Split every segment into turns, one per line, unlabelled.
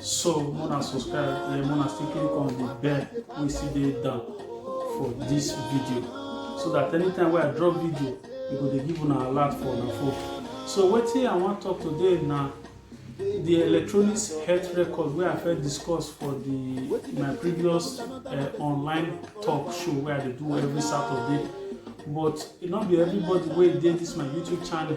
so mona subscribe yeah, mona still click on the bell wey still dey down for this video so that anytime wey i drop video e go dey give una alert for una phone so wetin i wan talk today na the electronic health record wey i first discuss for the my previous uh, online talk show wey i dey do every saturday but e no be everybody wey dey this my youtube channel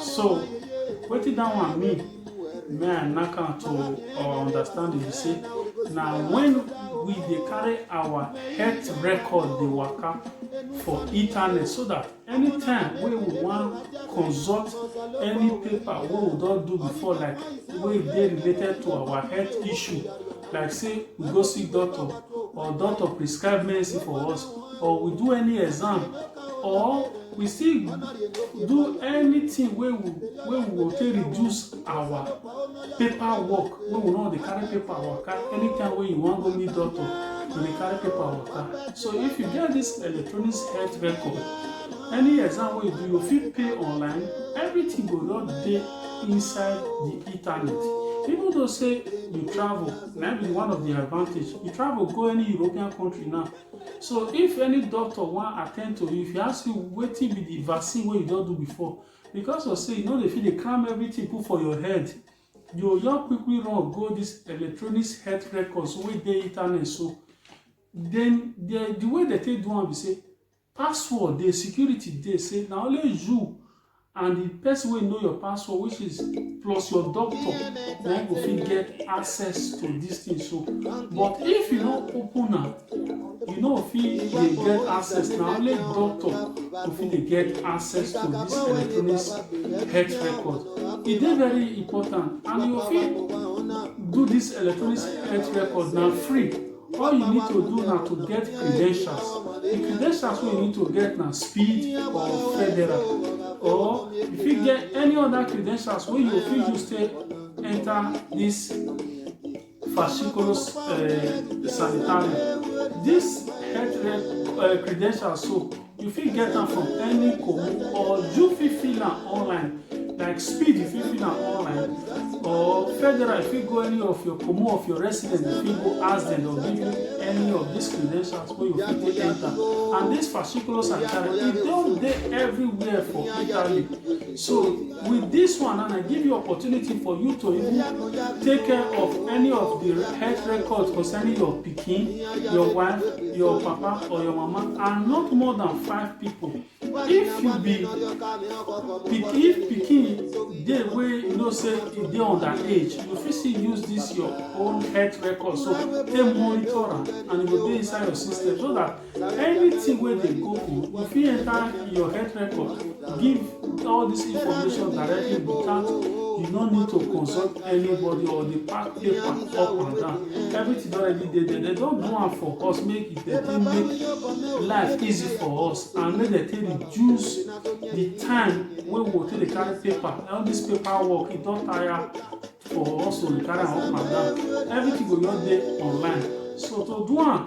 so wetin that one mean me and naka to uh, understand be say na when we dey carry our health record dey waka for internet so that anytime wey we wan consult any paper wey we don do before like wey dey related to our health issue like say we go see doctor or doctor prescribe medicine for us or we do any exam or we still do anything wey we wey we go take reduce our paper work wey we no dey carry paper waka anytime wey you wan go meet doctor you dey carry paper waka so if you get this electronic health record any exam wey you do you fit pay online everything go just dey inside the internet even though say you travel na be one of the advantage you travel go any european country now so if any doctor wan attend to you if you ask you wetin be the vaccine wey you don do before because of say you no dey fit dey cram everything put for your head you just quickly run go this electronic health records wey dey internet so then the, the way they take do am be say password dey security dey say na only you and the person wey know your password which is plus your doctor na go fit get access to this thing so but if you no open am you no fit dey get access na only doctor go fit dey get access to this electronic health record e dey very important and you fit do this electronic health record na free All you need to do na to get credentials. The credentials wey you need to get na speed or federal or you fit get any other credentials wey you fit use take enter this fasciculus uh, sanitarium. This health uh, credentials so You fit get am from any commune or you fit fill am online like speed you fit fill am online or federal you fit go any of your commune of your residence you fit go ask dem or give you any of these credentials wey you fit take enter and this fasciculus and channel e don dey everywhere for italy So with this one and I give you opportunity for you to even take care of any of the health records concerning your pikin, your wife, your papa or your mama and not more than five people. If you be pick, if pikin dey wey you know say e dey underage, you fit still use this your own health record so take monitor am and e go dey inside your system so that Anything wey dey go go, you fit enter your health record, give all this information directly without you no need to consult anybody or the pack paper up and down. Everything already dey there. They don do am for us make it they take make life easy for us and make they take reduce the time wey we go take dey carry paper. All this paper work e don tire for us to dey carry am up and down. Everything go just dey online. So to do am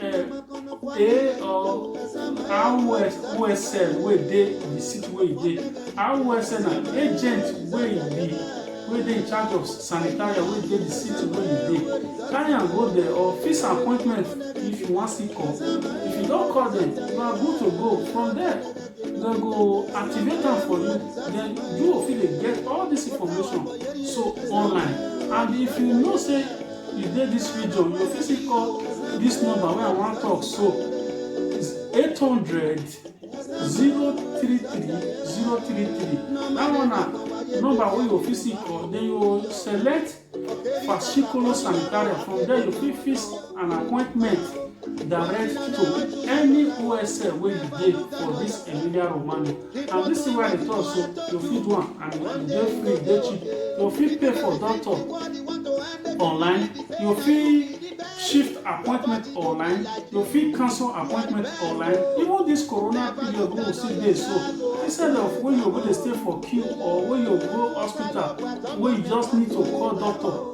a or awsl wey dey the city wey e dey awsl na agent wey e be wey dey in charge of sanitarian wey dey the city wey e dey carry am go there or fix appointment if you wan see call if you don call them you are good to go from there dem go activate am for you then you go fit dey get all this information so online and if you know say you dey this video you go fit still call this number wey i wan talk so it's 800 033 033 that one na number wey you go fit still call then you go select fascicolo sanitaria from there you fit fix an appointment direct to any osl wey you dey for this emilia romagna And this thing wey I dey talk so, you fit do am and e dey free, e dey cheap. You fit pay for doctor online, you fit shift appointment online, you fit cancel appointment online. Even this corona period wey we still dey so, instead of when you go dey stay for queue or when you go hospital wey you just need to call doctor,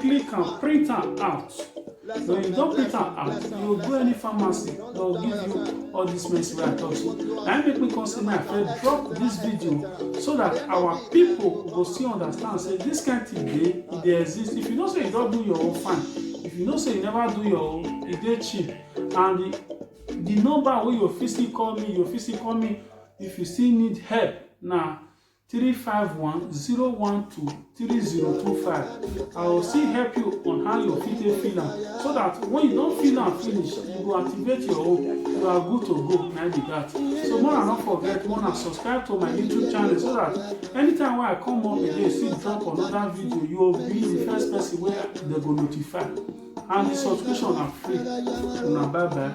click am print am out when you don print am out you go go any pharmacy they go give you all this medicine wey i talk so na im make me come say make i first drop this video so that our people go still understand say this kind thing dey e dey exist if you know say you don do your own fine if you know say you never do your own e dey cheap and the the number wey you fit still call me you fit still call me if you still need help na 351-012-3025. I will still help you on how you fit take fill am so that when you don fill am finish, you go activate your own. You are good to go, na be that. So more na no forget, more na subscribe to my YouTube channel so that anytime wey I come up again, still drop another video, you will be the first person wey dem go notify. And the subscription na free. Una bye bye.